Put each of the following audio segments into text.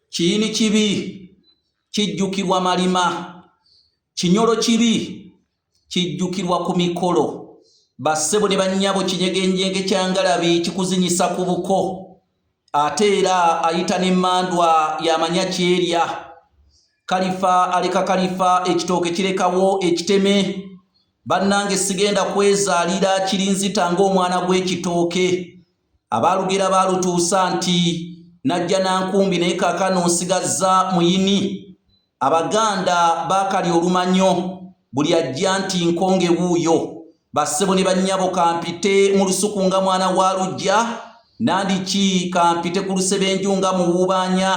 Kiyini kibi kijjukirwa malima, kinyolo kibi kijjukirwa ku mikolo, bassebo ne bannyabo kinyegenjenge kya ngalabi kikuzinyisa ku buko, ate era ayita n'emmandwa y'amanya kyerya. Kalifa aleka kalifa, ekitooke kirekawo ekiteme. Bannange sigenda kwezaalira kirinzita ng'omwana gw'ekitooke. abaalugera baalutuusa nti najja na nkumbi naye kaakano nsigazza muyini abaganda baakali olumanyo buli ajja nti nkonge wuuyo bassebo ne bannyabo kampite mu lusuku nga mwana wa lujja nandiki kampite ku lusebenju nga muwuubaanya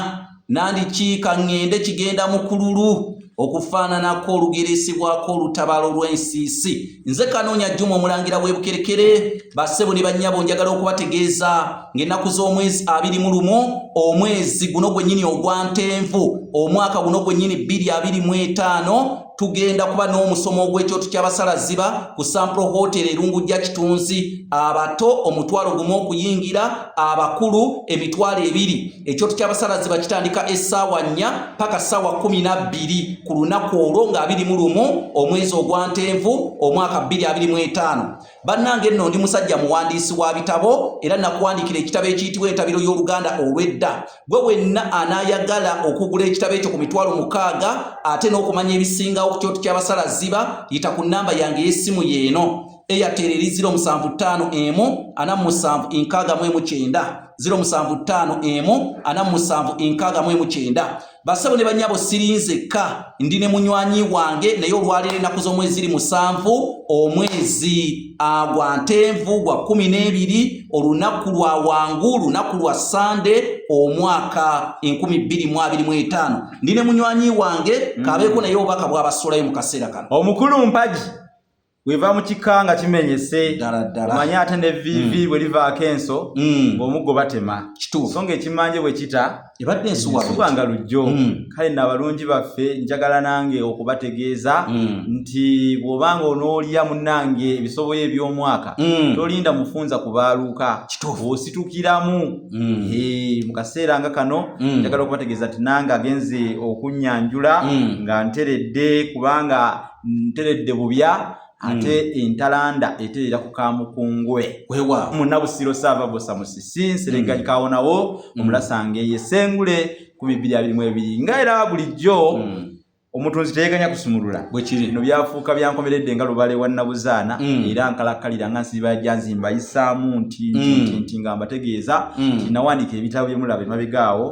nandikiika ŋŋende kigenda mu kululu okufaananako olugeresebwako olutabaalo lw'ensiisi nze kanoonya jjuma omulangira w'ebukerekere bassebo ne bannyabo njagala okubategeeza ng'ennaku z'omwezi abiri mu lumu omwezi guno gwennyini ogwa ntenvu omwaka guno gwennyini bbiri abiri mu etaano tugenda kuba n'omusomo ogw'ekyoto ky'abasalazziba ku sampro hotel erungujja kitunzi abato omutwalo gumu okuyingira abakulu emitwalo ebiri ekyoto ky'abasalazziba kitandika essaawa nnya paka ssaawa kumi na bbiri ku lunaku olwo nga abiri mu lumu omwezi ogwa ntenvu omwaka bbiri abiri mu etaano Bannange nno ndi musajja muwandiisi wa bitabo era nakuwandiikira ekitabo ekiyitibwa entabiro y'oluganda olw'edda gwe wenna anaayagala okugula ekitabo ekyo ku mitwalo mukaaga ate n'okumanya ebisingawo ku kyoto ky'abasala ziba yita ku nnamba yange ey'essimu yeeno airtel eri 075 emu ana musanvu enkaaga mu emu kyenda 075 emu ana musanvu enkaaga mu emu kyenda Basebo ne banyabo sirinze ka ndi ne munywanyi wange naye olwalire naku zo mwezi ri musanvu omwezi agwa ntenvu gwa kumi n'ebiri olunaku lwa wangu lunaku lwa sande omwaka enkumi bbiri mu abiri mu etaano ndi ne munywanyi wange mm. kabeeko naye obubaka bwabasulayo mu kaseera kano omukulu mpagi weva mu kika nga kimenyese omanye ate ne vivi mm. bwe livaako enso mm. ng'omuggo batema so ng'ekimanje bwe kita ebadde ensuwa nga lujjo mm. kale na abalungi baffe njagala nange okubategeeza nti bw'oba nga onoolya munnange ebisoboyo eby'omwaka tolinda mufunza ku baaluuka ositukiramu mu kaseera nga kano njagala okubategeeza nti nange agenze okunyanjula nga nteredde kubanga nteredde bubya hmm. ate entalanda eterera ku kamukungwe munabusiro saava bosa musisi nseregayi hmm. kawonawo hmm. omulasanga eye sengule ku bibiri abiri mu ebiri nga era bulijjo omutunzi teyeganya kusumulula bwekiri no byafuuka byankomeredde nga lubale wa nabuzaana era nkalakkalira nga nsiba janzimba yisaamu nti nti nti nga mbategeeza nti nawandiika ebitabo byemulaba emabegaawo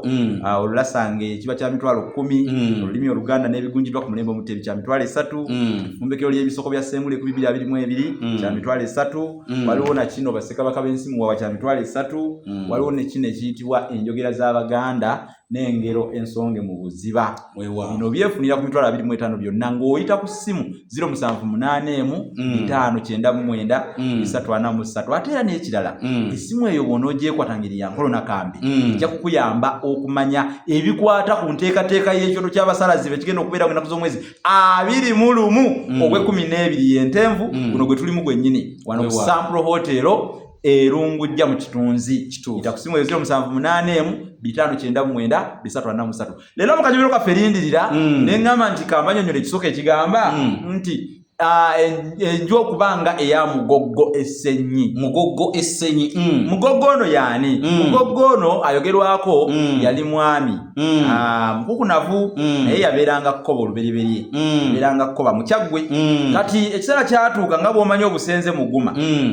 olulasanga ekiba kya mitwalo kkumi mm. olulimi oluganda n'ebigunjiddwa ku mulembe omuteebi kya mitwalo esatu mm. efumbekero ly'ebisoko bya sengule ku bibiri abiri mu ebiri mm. kya mitwalo esatu waliwo na kino basekabaka b'ensi muwawa kya mitwalo esatu waliwo ne kino ekiyitibwa enjogera z'abaganda n'engero ensonge mu buziba bino byefunira ku mitwalo abiri mu etaano byonna ng'oyita ku ssimu ziro musanvu munaana emu mm. etaano kyenda mu mwenda mm. esatu ana mu ssatu ate era n'ekirala mm. essimu eyo bwona ogyekwata ngeri ya nkolona kambi ejja kukuyamba okumanya ebikwata ku nteekateeka y'ekyoto ky'abasalazi be kigenda okubeera enaku z'omwezi abiri mu lumu ogw'ekkumi n'ebiri y'entenvu guno gwe tulimu gwennyini wano ku sampro hotero erungujja mu kitunzi itakusimu ezio musanvu munane emu bitano kyenda mwenda bisatu ana musatu leero mukajubiro kaffe lindirira mm. ne ŋŋamba nti kamanyonyola ekisooka ekigamba mm. nti ah, enju okuba nga eya mugoggo essenyi mugoggo essenyi mm. mugoggo ono yaani mugoggo ono ayogerwako yali mwami ah, mukukunavu naye yabeeranga kkoba oluberyeberye yabeeranga kkoba mukyaggwe kati ekiseera kyatuuka nga bw'omanyi obusenze muguma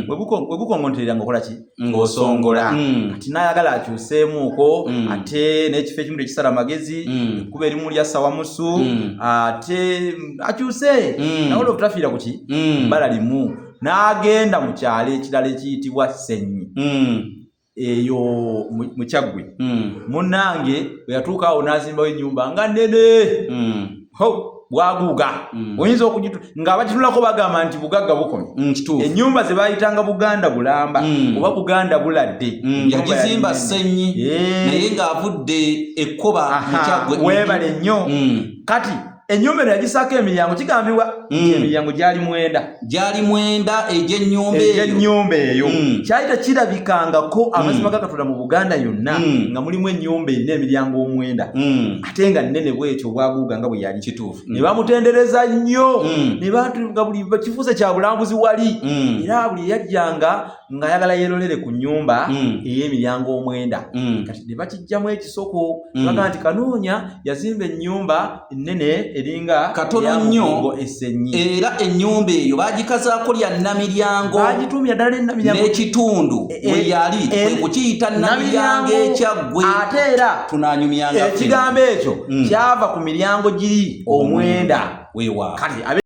we bukongonterera nga okola ki ng'osongola mm. kati nayagala akyuseemuuko mm. ate n'ekifo ekimu tekisala magezi mm. kuba erimu lya sawamusu ate akyuse nawe olwo tutafiira kuki bala limu n'agenda mu kyalo ekirala ekiyitibwa senyi eyo mukyaggwe munange bwe yatuuka awo n'azimbawo ennyumba nga nene bwaguuga mm. oyinza okugitu nga abagitunulako bagamba nti bugagga bukomye mm, enyumba zebayitanga buganda bulamba mm. oba buganda buladde yagizimba senyi eh. naye ngaavudde ekkoba webale nnyo kati enyumba eno yagisaako emiryango kigambibwa mm. emiryango gyali mwenda gyali mwenda egyenyumba eyo mm. kyali tekirabikangako mm. amazima gakatonda mu buganda yonna mm. nga mulimu enyumba erina emiryango omwenda mm. ate nga nnene bwekyo obwaguuga nga bwe yali kituufu mm. ne bamutendereza nnyo mm. ne batuga buli kifuuse kya bulambuzi wali mm. era buli eyajjanga ng'ayagala yeerolere ku nnyumba ey'emiryango omwenda kati ne bakijjamu ekisoko baga nti kanoonya yazimba ennyumba ennene eringa katono nnyo esennyi era ennyumba eyo baagikazaako lya nnamiryango baagituumya ddala ennamiryango n'ekitundu e, weyali e, kwe kukiyita namiryango ekyaggwe ate era tunanyumyanga ekigambo ekyo mm. kyava ku miryango giri omwenda wewa kati